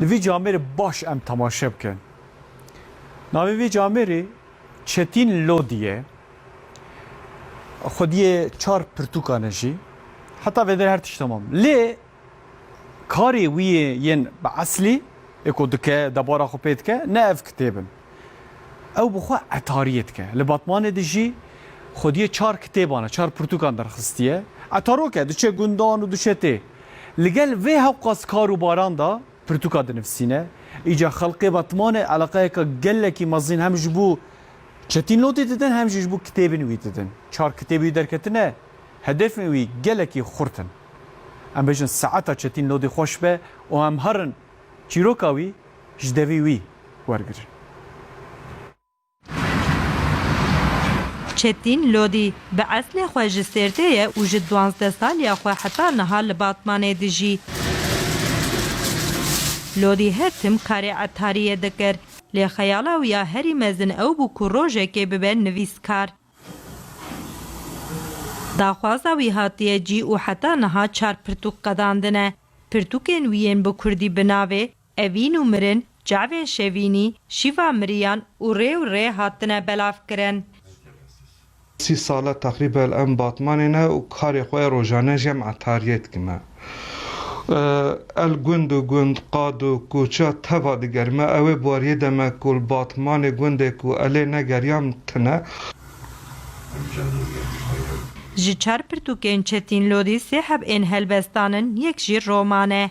Li vî camêrê baş em temaşe bikin. Navê vî camêrê Çetîn Lodî ye. Xwediyê çar pirtûkan e jî. Heta vê der her tişt temam. Lê karê wî yên bi eslî ê ku dike, debara xwe pê dike ne ev kitêb in. Ew bi xwe etariyê dike. Li Batmanê dijî. Xwediyê çar kitêban e, çar pirtûkan derxistiye. Etarok e, diçe gundan û diçe tê. Li gel vê hewqas kar û baran de pirtûka dinivîsîne. Îcar xelkê Batmanê eleqeyeke gelekî mezin hem ji bo çetîn lotê didin hem jî ji bo kitêbên wî didin. Çar kitêbê wî derketine, hedefên wî gelekî xurt in. Em bêjin saeta çetîn lotê xweş be û em herin Çîroka wî ji devî wî wergirin. Çetîn Lodî bi eslê xwe ji Sêrtê ye û ji duwazdeh saliya xwe heta niha li Batmanê dijî. Lodî her tim karê etariyê dikir. Lê xeyala wî ya herî mezin ew bû ku rojekê bibe nivîskar. Daxwaza wî hatiye cî û heta niha çar pirtûk qedandine. Pirtûkên wî yên bi kurdî bi navê, Evîn û mirin, Çavên şevînî, Şîva miriyan û rê û rê hatine belavkirin. Sî sal e teqrîben em Batmanê ne û karê xwe yê rojane jî em etariyê dikime. El gund û gund, qad û koça teva digerime. Ew ê bariyê de me ku li Batmanê gundê ku elê ne geriyan tune. Ji çar pirtûkên Çetin Lodî sê heb ên helbest danin, yek jî roman e.